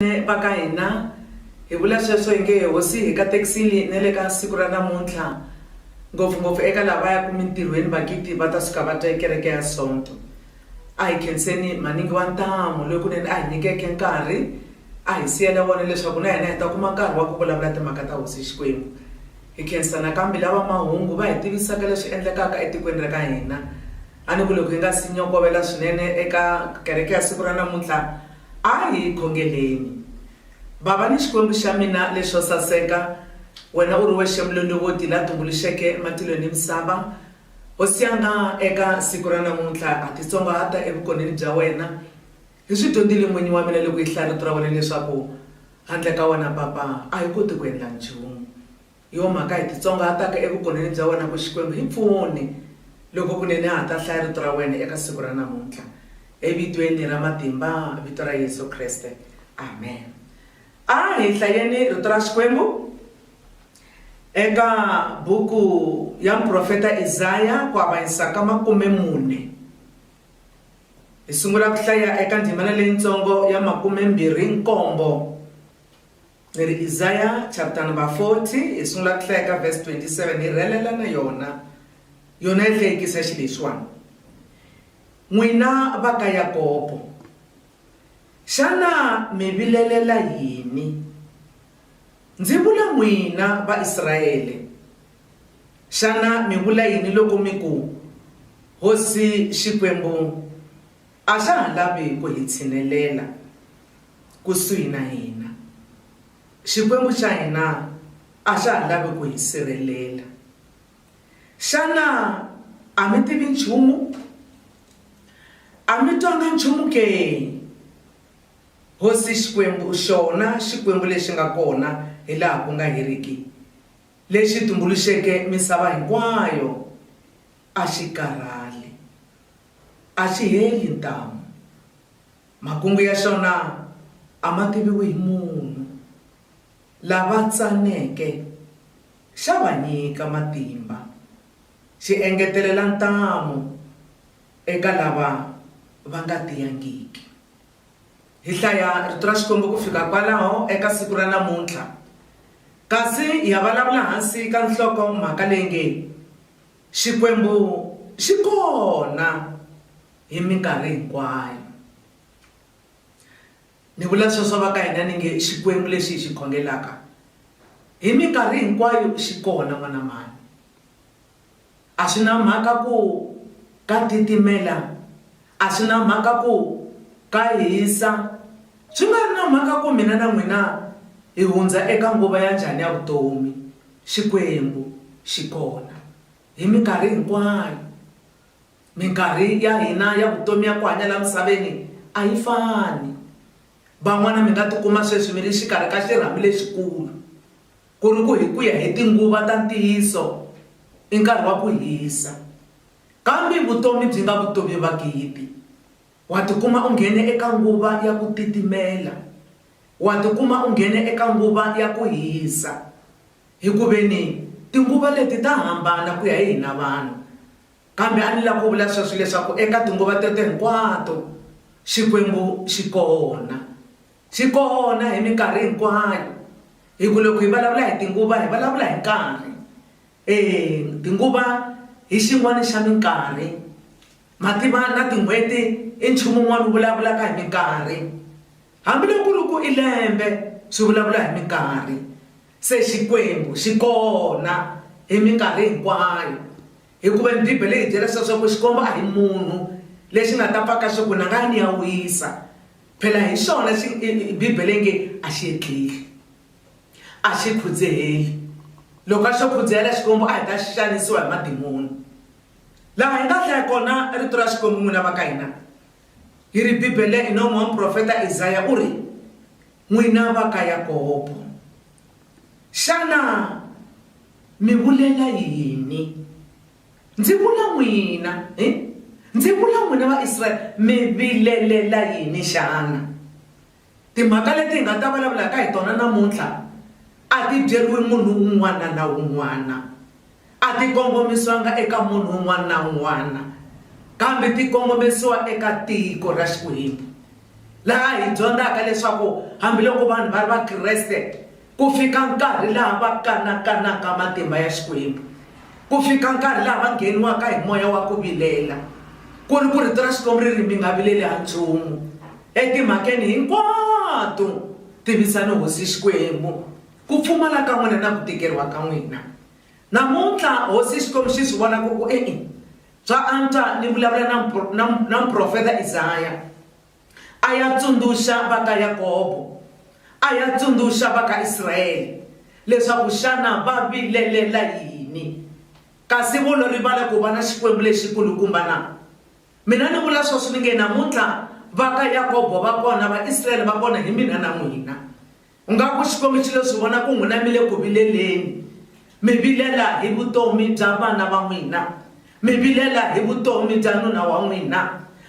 Vanene va ka hina, hi vula sweswo hi nge Hosi hi katekisile na le ka siku ra namuntlha, ngopfu-ngopfu eka lava va yaka mintirhweni magidi va ta suka va twa hi Kereke ya Sonto. A hi khenseni Maningi wa Ntamu loyi kunene a hi nyikeke nkarhi, a hi siyela wona leswaku na hina hi ta kuma nkarhi wa ku vulavula timhaka ta Hosi Xikwembu. Hi khensa nakambe lava mahungu va hi tivisaka leswi endlekaka etikweni ra ka hina. A ni ku loko hi nga si nyokovela swinene eka kereke ya siku ra namuntlha, a hi khongeleni. Bava ni Xikwembu xa mina lexo saseka, wena u ri wexe Mulondovoti la tumbuluxeke matilo ni misava, Hosi ya nga, eka siku ra namuntlha ha titsongahata evukoneni bya wena. Hi swi dyondzile, N'winyi wa mina, loko hi hlaya Rito ra wena leswaku handle ka wena, Papa, a hi koti ku endla nchumu. Hi yo mhaka hi titsongahataka evugoneni bya wena ku, Xikwembu, hi pfune. Loko kunene ha ha ta hlaya Rito ra wena eka siku ra namuntlha. Evitweni ra matimba, Vito ra Yesu Kriste. Amen. A hi hlayeni Rito ra Xikwembu eka buku ya muprofeta Isaya, ku avanyisa ka makume mune. Hi sungula ku hlaya eka ndzimana leyintsongo ya makume mbirhi nkombo. Hi ri Isaya chapter number 40 hi sungula ku hlaya ka verse 27 hi rhelela na yona yona yi hlekisa xi lexiwani n'wina va ka Yakobo xana mi vilelela yini ndzi vula n'wina va Israyele xana mi vula yini loko mi ku hosi Xikwembu A xa ha lavi ku hi tshinelela kusuhi na hina. Xikwembu xa hina a xa ha lavi ku hi sirhelela. Xana a mi tivi nchumu? A mi twanga nchumu ke? Hosi Xikwembu, xona Xikwembu lexi nga kona hi laha ku nga heriki, lexi tumbuluxeke misava hinkwayo, a xi karhali, a xi heli ntamu. Makungu ya xona a ma tiviwi hi munhu. Lava tsaneke xa va nyika matimba, xi engetelela ntamu eka lava va nga tiyangiki. Hi hlaya Rito ra Xikwembu ku fika kwalaho eka siku ra namuntlha, kasi hi ya vulavula hansi ka nhloko-mhaka leyi nge, Xikwembu xi kona hi minkarhi hinkwayo. Ni vula sweswo va ka hina ni nge Xikwembu lexi hi xi khongelaka hi minkarhi hinkwayo xi kona n'wana mhani. A swi na mhaka ku ka titimela, a swi na mhaka ku ka hisa, Swi nga ri na mhaka ku mina na n'wina hi hundza eka nguva ya njhani ya vutomi, Xikwembu xi kona hi minkarhi hinkwayo. Minkarhi ya hina ya vutomi ya ku hanya laha misaveni a yi fani. Van'wana mi nga tikuma sweswi mi ri exikarhi ka xirhami lexikulu, ku ri ku hi ku ya hi tinguva ta ntiyiso i nkarhi wa ku hisa, kambe vutomi byi nga vutomi va gidi. Wa tikuma u nghene eka nguva ya ku titimela, wa tikuma u nghene eka nguva ya ku hisa, hi ku ve ni tinguva leti ta hambana ku ya hi hina vanhu. Kambe a ni lava ku vula sweswo leswaku eka tinguva teto hinkwato Xikwembu xi kona. Xi kona hi minkarhi hinkwayo, hi ku loko hi vulavula hi tinguva hi vulavula hi nkarhi. E tinguva hi xin'wana xa minkarhi. Mativa na tin'hweti i nchumu wun'wana wu vulavulaka hi minkarhi. Hambi loko ku ri ku i lembe, swi vulavula hi minkarhi. Se Xikwembu xi kona hi minkarhi hinkwayo. Hikuva ni Bibele yi hi byela leswaku Xikwembu a hi munhu, lexi nga ta paka swa ku ni nga ya ni ya wisa. Phela hi swona Bibele yi nge a xi hetleli. A xi khudzeheli. Loko a xo khudzehela Xikwembu, a hi ta xanisiwa hi madimoni. Laha hi nga hlaya kona Rito ra Xikwembu, n'wina va ka hina, hi ri, Bibele hi nomu wa muprofeta Isaya, u ri, N'wina va ka Yakobo, xana mi vulela yini? Ndzi vula n'wina, hi, ndzi vula n'wina va Israele, mi vilelela yini xana? Timhaka leti hi nga ta vulavulaka hi tona namuntlha a ti byeriwi munhu un'wana na un'wana, a ti kongomisiwanga eka munhu un'wana na un'wana kambe ti kongomisiwa eka tiko ra Xikwembu laha hi dyondzaka leswaku hambiloko vanhu va ri Vakreste Ku fika nkarhi laha va kanakanaka matimba ya Xikwembu, ku fika nkarhi laha va ngheniwaka hi moya wa ku vilela, ku ri ku Rito ra Xikwembu ri ri, Mi nga vileli ha nchumu, etimhakeni hinkwato tivisani Hosi Xikwembu ku pfumala ka n'wina na ku tikeriwa ka n'wina. Namuntlha, Hosi Xikwembu xi swi vona ku ri ku, E-e, swa antswa ni vulavula na, na, na muprofeta Isaya. A ya tsundzuxa va ka Yakobo, a ya tsundzuxa va ka Israele leswaku xana va vilelela yini. Kasi vo lo rivala ku va na Xikwembu lexi kulukumba na? Mina ni vula sweswo ni nge namuntlha va ka Yakobo va kona, va Israele va kona hi mina na n'wina. Ingaku Xikwembu xi lo swi vona ku n'wina mi le ku vileleni, mi vilela hi vutomi bya vana va n'wina, mi vilela hi vutomi bya nuna wa n'wina,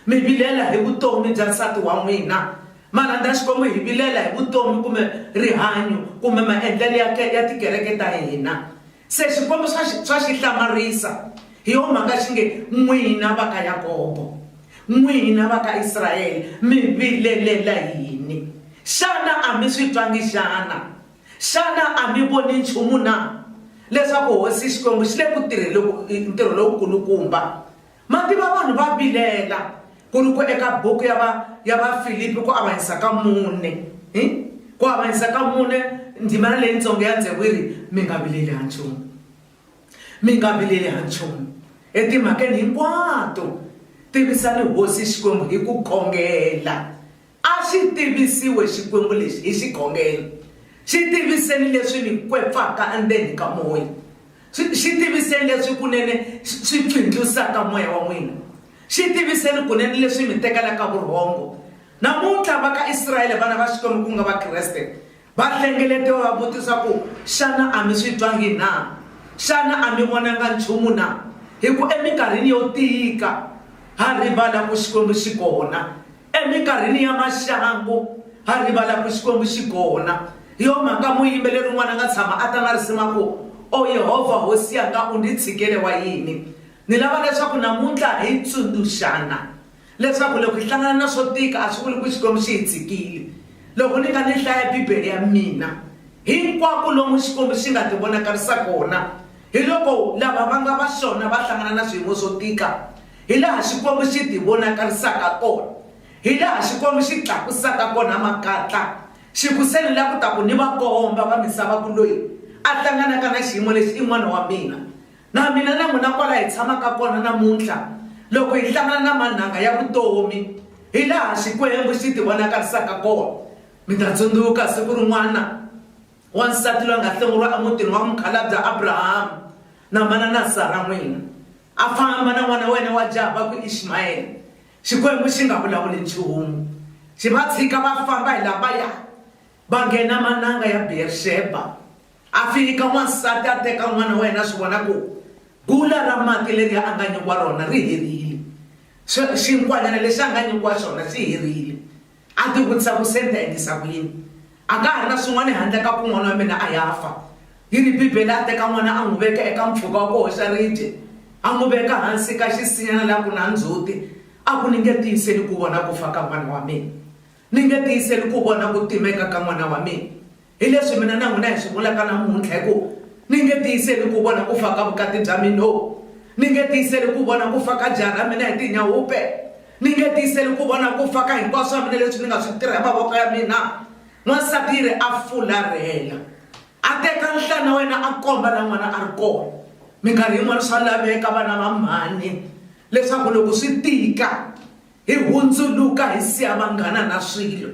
mi vilela hi vutomi bya nsati wa n'wina. Ma rhandza Xikwembu hi vilela hi vutomi kumbe rihanyo kumbe maendlelo ya ya tikereke ta hina? Se swikombo swa xi, swa xi hlamarisa, hi yo mhaka xi nge, N'wina va ka Yakobo, n'wina va ka Israele, mi vilelela yini? Xana a mi swi twangi xana? Xana a mi voni nchumu na, leswaku hosi Xikwembu xi le ku tirhele ku, ntirho lowu kulukumba? Mati va vanhu va vilela ku ri ku eka buku ya va ya Vafilipi ku avanyisa ka mune hi ku avanyisa ka mune ndzimana leyitsongo ya ndzevu yi ri mi nga vileli ha nchumu mi nga vileli ha nchumu etimhakeni hinkwato tivisani hosi Xikwembu hi ku kongela A xi tivisiwe Xikwembu lexi hi xikhongelo, xi tiviseni leswi ni kwepfaka endzeni ka moya, xi xi tiviseni leswi kunene swi pfindlusaka moya wa n'wina, xi tiviseni kunene leswi mi tekelaka vurhongo. Namuntlha, va ka Israele, vana va Xikwembu ku nga Vakreste, va hlengeletiwa va vutisa ku, Xana a mi swi twangi na? Xana a mi vonanga nchumu na? Hi ku eminkarhini yo tika, ha rivala ku Xikwembu xi kona, Eminkarhini ya maxangu, ha rivala ku Xikwembu xi kona. Hi yo mhaka muyimbeleri un'wana a nga tshama a ta na risimu a ku, O Yehovha Hosi Yanga, u ndzi tshikele wa yini? Ni lava leswaku namuntlha hi tsundzuxana leswaku loko hi hlangana na swo tika a swi vuli ku Xikwembu xi hi tshikile. Loko ni kha ni hlaya Bibele ya mina, hinkwako lomu Xikwembu xi nga tivonakarisa kona hi loko lava va nga va xona va hlangana na swiyimo swo tika. Hilaha Xikwembu xi tivonakarisaka hakona, hilaha Xikwembu xi tlakusaka hakona makatla, xi ku se ni la ku ta ku ni va komba va misava ku loyi a hlanganaka na xiyimo lexi i n'wana wa mina. Na mina na n'wina kwala hi tshamaka kona namuntlha, loko hi hlangana na manhanga ya vutomi, hilaha Xikwembu xi tivonakarisaka hakona. Mi ta tsundzuka siku rin'wana wansati loyi a nga hlongoriwa emutini wa mukhalabya Abrahama, na manana Sara n'wina. A famba na n'wana wa yena wa jaha va ku, Ishmayele, Xikwembu xi nga vulavuli nchumu. Xi va tshika va famba hi laha va ya, va nghena mananga ya Beer-Sheba. A fika n'wansati a teka n'wana wa yena a swi vona ku gula ra mati leri a nga nyikiwa rona ri herile, xinkwanyana lexi a nga nyikiwa xona xi herile. A tivutisa ku, Se ni ta endlisa ku yini? A ka ha ri na swin'wana handle ka ku n'wana wa mina a ya fa. Hi ri Bibele, a teka n'wana a n'wi veka eka mpfhuka wa ku hoxa ribye, a n'wi veka hansi ka xisinyana laha ku na ndzhuti. A ku, Ni nge tiyiseli ku vona ku fa ka n'wana wa mina. Ni nge tiyiseli ku vona ku timeka ka n'wana wa mina. Hi leswi mina na n'wina hi swi vulaka namuntlha, hi ku, Ni nge tiyiseli ku vona ku fa ka vukati bya mina, no, ni nge tiyiseli ku vona ku fa ka jaha ra mina hi tinyahupe, ni nge tiyiseli ku vona ku fa ka hinkwaswo swa mina leswi ni nga swi tirha hi mavoko ya mina. N'wansati yi ri a fularhela, a teka nhlana wa yena a komba laha n'wana a ri kona. Minkarhi yin'wana swa laveka, vana va mhani, leswaku loko swi tika, Hi hundzuluka hi siya vanghana na swilo,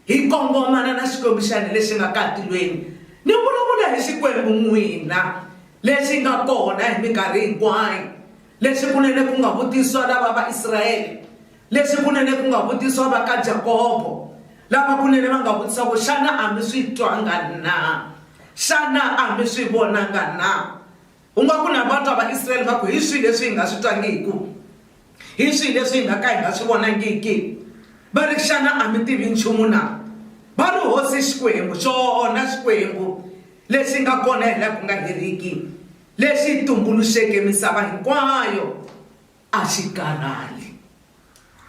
hi kongomana na xikomixani lexi nga ka tilweni. Ni vulavula hi Xikwembu n'wina lexi nga kona hi minkarhi hinkwayo, lexi kunene ku nga vutiswa lava va Israele, lexi kunene ku nga vutiswa va ka Jakobo, lava kunene va nga vutisa ku, Xana a mi swi twanga na? Xana a mi swi vonanga na? U nga ku na vatwa va Israel va ku, Hi swihi leswi hi nga swi twangiku? Hi swihi leswi hi nga ka hi nga swi vonangiki? Va ri, Xana a mi tivi nchumu na? Va ri, Hosi Xikwembu, xona Xikwembu lexi nga kona hi laha ku nga heriki, lexi tumbuluxeke misava hinkwayo, A xi karhali.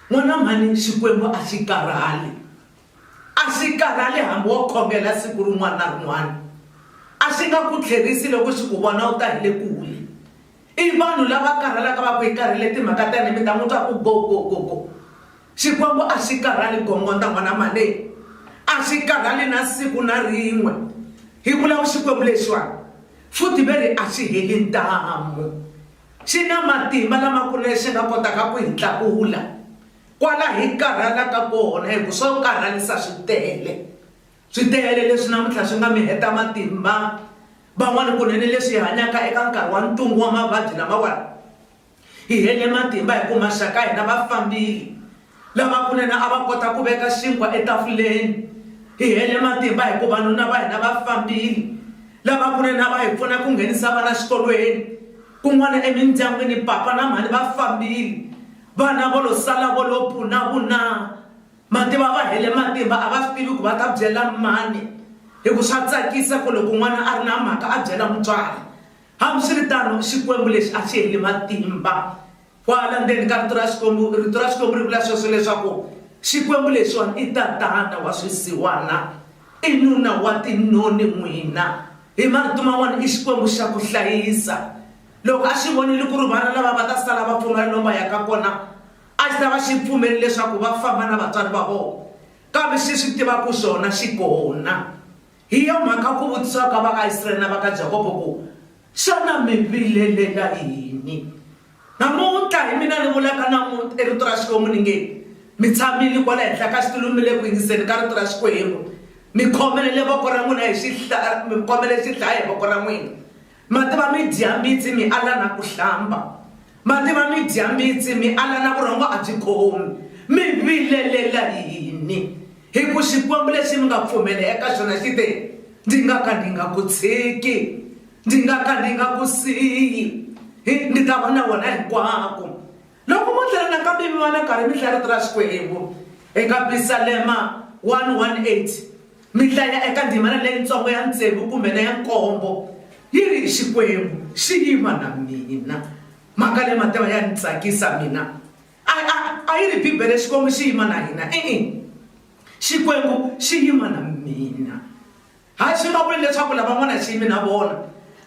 N'wana mhani, Xikwembu a xi karhali. A xi karhali hambi wo khongela siku rin'wana na rin'wana. A xi nga ku tlherisi loko xi ku vona u ta hi le kule. I vanhu lava karhalaka va ku hi karhele timhaka ta hina mi ta n'wi twa ku go go go go. Xikwembu a xi karhali gongondza n'wana mhani. A xi karhali na siku na rin'we. Hi vula ku Xikwembu lexiwani futhi ve ri a xi heli ntamu. Xi na matimba lamakulu lexi nga kotaka ku hi tlakula kwala hi karhalaka kona, hikuva swo karhalisa swi tele. Swi tele leswi namuntlha swi nga mi heta matimba. Van'wana kunene leswi hi hanyaka eka nkarhi wa ntungu wa mavabyi lamawani, hi hele matimba hikuva maxaka ya hina va fambile, Lavakunene a va kota ku veka xinkwa etafuleni. Hi hele matimba hi ku vanuna va hina va fambile. Lavakunene a va hi pfuna ku nghenisa vana xikolweni. Kun'wana emindyangwini papa na mhani va fambile. Vana vo lo sala vo lo puna-vunaa. Mativa va hele matimba a va swi tivi ku va ta byela mani hi ku swa tsakisa ku loko n'wana a ri na mhaka a byela mutswari. Hambiswiritano, Xikwembu lexi a xi heli matimba. Kwala ndzeni ka rito ra Xikwembu, rito ra Xikwembu ri vula sweswo leswaku Xikwembu lexiwani i tatana wa swisiwana, i nuna wa tinoni n'wina. Hi marito man'wana i Xikwembu xa ku hlayisa. Loko a xi vonile ku ri vana lava va ta sala va pfumala lomu va yaka kona, a xi ta va xi pfumeli leswaku va famba na vatswari va vona. Kambe xi swi tiva ku xona xi kona. Hi yo mhaka ku vutisiwa ka va ka Israyele na va ka Jakobo ku, Xana mi vilelela yini namuntlha hi mina ni vulaka na muti rito ra Xikwembu ni nge, Mi tshamile kwala henhla ka xitulu mi le ku yingiseni ka rito ra Xikwembu, mi khomelele voko ra n'wina hi xihla, mi khomele xidlaya hi voko ra n'wina, Mativa mi dya mbitsi mi ala na ku hlamba, mativa mi dya mbitsi mi ala na vurhongo a byi khomi. Mi vilelela yini? Hi ku Xikwembu lexi mi nga pfumela eka xona xi te, Ndzi nga ka ndzi nga ku tshiki, ndzi nga ka ndzi nga ku siyi, ndzi ta va na wena hinkwako. Loko mo tlhela nakambe mi va na nkarhi mi hlaya Rito ra Xikwembu eka Pisalema 118, mi hlaya eka ndzimana leyitsongo ya tsevu kumbe na ya nkombo yi ri Xikwembu Xi Yima na Mina. Mhaka leyi Matewa ya ni tsakisa mina. A, a, a yi ri Bibele Xikwembu Xi Yima na Hina. E-e. Xikwembu Xi Yima na Mina. Hi swi vula ku yini leswaku lava ngo na xiyimi na vona,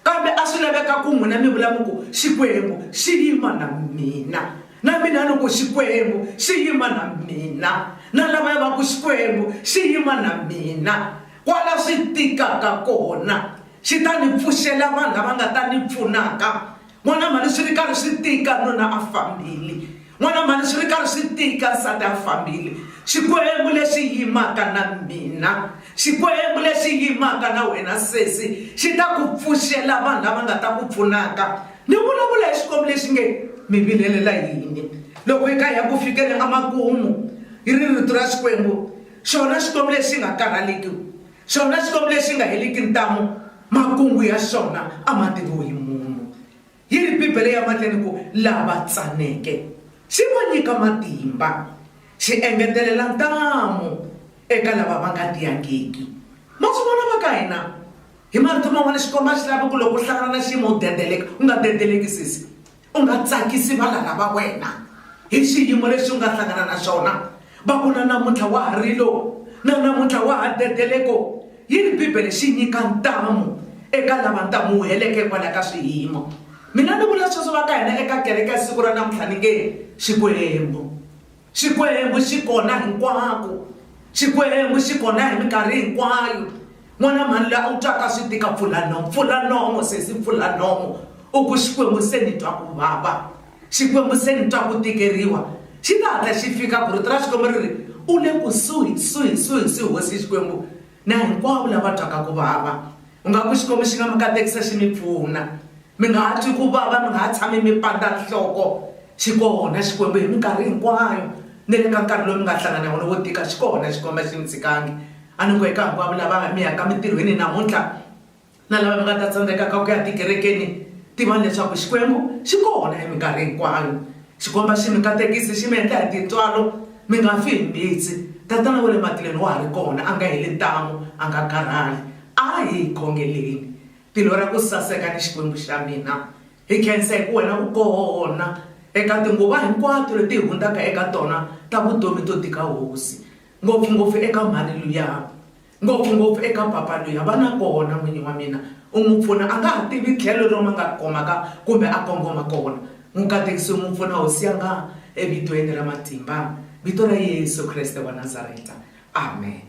kambe a swi laveka ku n'wina mi vula mi ku, Xikwembu xi yima na mina? Na mina ni ku, Xikwembu xi yima na mina. Na lavaya va ku, Xikwembu xi yima na mina. Kwala swi tikaka kona, xi ta ni pfuxela vanhu lava nga ta ni pfunaka N'wana mhani swi ri karhi swi tika nuna a fambile, n'wana mhani swi ri karhi swi tika nsati a fambile. Xikwembu lexi yimaka na mina, Xikwembu lexi yimaka na wena sesi xi ta ku pfuxela vanhu lava nga ta ku pfunaka. Ni vulavula hi Xikwembu lexi nge mi vilelela yini loko hi kha hi ya ku fikeni emakumu hi ri rito ra Xikwembu, xona Xikwembu lexi nga karhaleki. Xona Xikwembu lexi nga heliki ntamu, makungu ya xona a ma tiviwi hi munhu. Yi ri Bibele ya mahleni ku, Lava tsaneke xi va nyika matimba, xi engetelela ntamu eka lava va nga tiyangiki. Ma swi vona va ka hina? Hi marito man'wana, Xikwembu a xi lavi ku loko u hlangana na xiyimo u dendeleka. U nga dendeleki sesi. U nga tsakisi valala va wena hi xiyimo lexi u nga hlangana na xona. Va ku, Na namuntlha wa ha rilo, na namuntlha wa ha dedele. Ko yini Bibele xi nyika ntamu eka lava ntamuheleke hikwalaho ka swiyimo? Mina ni vula sweswo va ka hina eka kereke ya siku ra namuntlha ni nge, Xikwembu! Xikwembu xi kona hinkwako. Xikwembu xi kona hi minkarhi hinkwayo. N'wana mhani loyi a wu twaka swi tika pfula nomo, pfula nomo sesi, pfula nomo. U ku Xikwembu se ni twa ku vava, Xikwembu se ni twa ku tikeriwa. Xi ta hatla xi fika ku rito ra Xikwembu ri ri, U le kusuhi, suhi, suhi, suhi Hosi Xikwembu na hinkwavo lava twaka ku vava. U nga ku Xikwembu xi nga mi katekisa xi mi pfuna. Mi nga ha twi ku vava, mi nga ha tshami mi pandza nhloko. Xi kona Xikwembu hi minkarhi hinkwayo, ni le ka nkarhi lowu mi nga hlangana na wona wo tika, xi kona Xikwembu, a xi mi tshikangi. A ni ku eka hinkwavo lava mi yaka emintirhweni namuntlha na lava mi nga ta tsandzekaka ku ya tikerekeni, tivani leswaku Xikwembu xi kona hi minkarhi hinkwayo. Xikwembu a xi mi katekisi, xi mi endla hi tintswalo, mi nga fi hi mbitsi. Tatana wa le matilweni wa ha ri kona, a nga heli ntamu, a nga karhali. A hi khongeleni. Tilo ra ku saseka ni Xikwembu xa mina, hi khensa hi ku wena u kona eka tinguva hinkwato leti hi hundzaka eka tona ta vutomi to tika Hosi, ngopfu-ngopfu eka mhani luya, ngopfu-ngopfu eka papa luya. Va na kona, N'wini wa mina. U n'wi pfuna. A nga ha tivi tlhelo lomu a nga khomaka kumbe a kongoma kona. N'wi katekisa u n'wi pfuna, Hosi yanga, eVitweni ra matimba, Vito ra Yesu Kreste wa Nazareta. Amen.